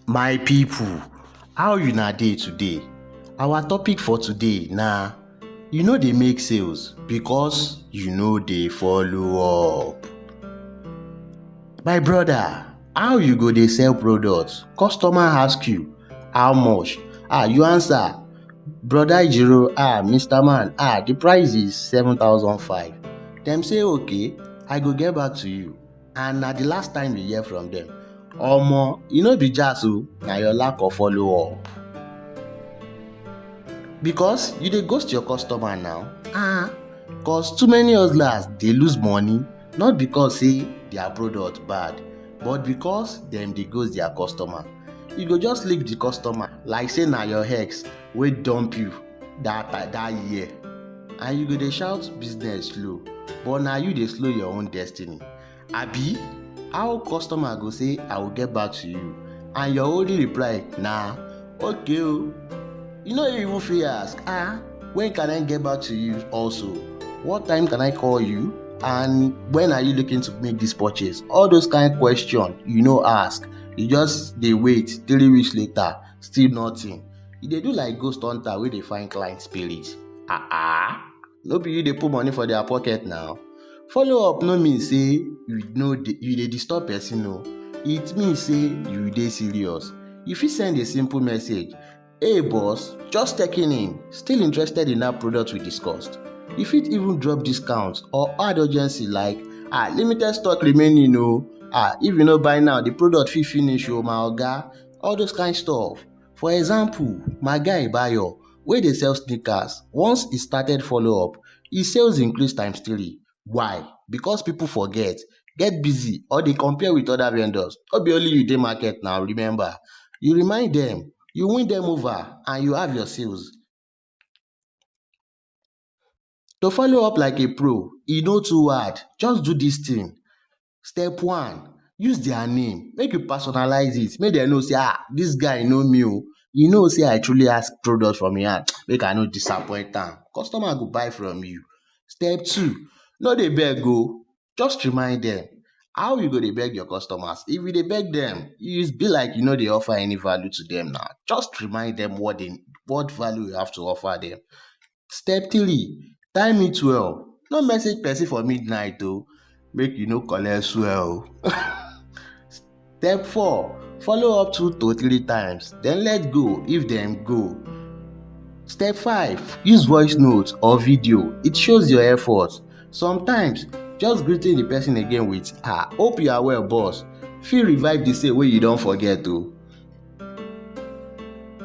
My people, how una dey today? Our topic for today na you no dey make sales because you no dey follow up. My brother, how you go dey sell products, customer ask you how much, ah you answer brother Ijiro, ah Mister Man, ah the price is seven thousand five. Dem say okay, I go get back to you. and na the last time we hear from them. Omo, e no be jazz o, na your lack of follow up. Because you dey ghost your customer now. Ah, cause too many hustlers dey lose money not because say their product bad but because dem dey ghost their customer. You go just leave the customer like say na your ex wey dump you. that ti- that year and you go dey shout business slow but na you dey slow your own destiny abi how customer go say i will get back to you and your only reply na okay o you no even fit ask ah when can i get back to you also what time can i call you and when are you looking to make this purchase all those kind question you no ask you just dey wait three weeks later still nothing You dey do like ghost hunter wey dey find client spirit. Ah ah, no be you dey put money for their pocket now. Follow up no mean say you no dey you dey disturb person o. It mean say you dey serious. You fit send a simple message, Hey boss, just checking in, still interested in that product we discussed? You fit even drop discount or add urgency like, ah limited stock remaining o, ah if you no buy now the product fit finish o my oga, all those kind stuff. For example, my guy Bayo wey dey sell sneakers, once he start follow up, he sales increase times three. Why? Because people forget, get busy or dey compare with other vendors. No be only you dey market now, remember. You remind them, you win them over and you have your sales. To follow up like a pro, e no too hard, just do this thing. Step one, use their name, make you personalize it, make dem know say ah this guy know me oh, you know say I truly ask product from him hand, make I no disappoint am, customer go buy from you. Step two, no dey beg oh, just remind dem, how you go dey beg your customers? If you dey beg dem, you be like you no dey offer any value to dem na, just remind dem what dem what value you have to offer dem. Step 3, time it well. No message person for midnight o, make you no collect swell o. Step 4, follow up two to three times, then let go if dem go. Step 5, use voice note or video, it shows your effort. Sometimes, just greeting the person again with ah, hope you are well boss fit revive the sale wey you don forget o.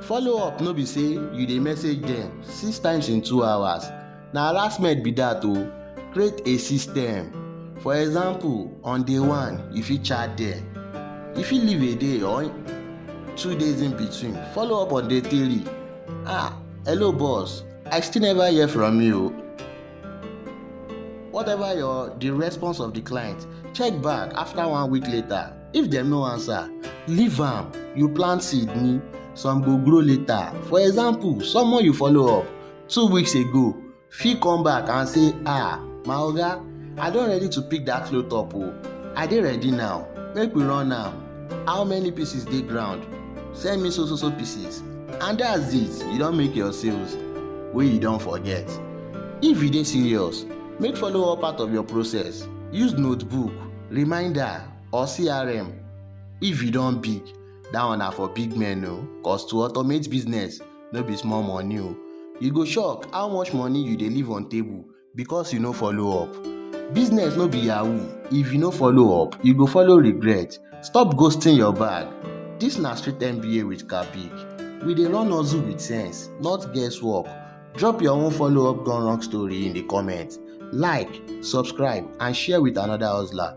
Follow up no be say you dey message dem six times in two hours, na harassment be dat o. Create a system. For example, on day one, you fit chat dem. You fit leave a day or two days in between. Follow up on day three. Ah, hello boss, I still never hear from you. Whatever your the response of the client, check back after one week later. If dem no answer, leave am. You plant seed ni, some go grow later. For example, someone you follow up two weeks ago fit come back and say, ah, my oga, I don ready to pick that load up o. I dey ready now, make we run am. How many pieces dey ground? Send me so so so pieces. And that's it, you don make your sales wey you don forget. If you dey serious, make follow up part of your process. Use notebook, reminder or CRM. If you don big, that one na for big men o, cause to automate business no be small money o. You go shock how much money you dey leave on table because you no follow up. Business no be yahoo, if you no follow up, you go follow regret. Stop ghosting your bag. This na street MBA with Kabik. We dey run hustle with sense, not guesswork. Drop your own follow up gone wrong story in the comment. Like, subscribe, and share with another hustler.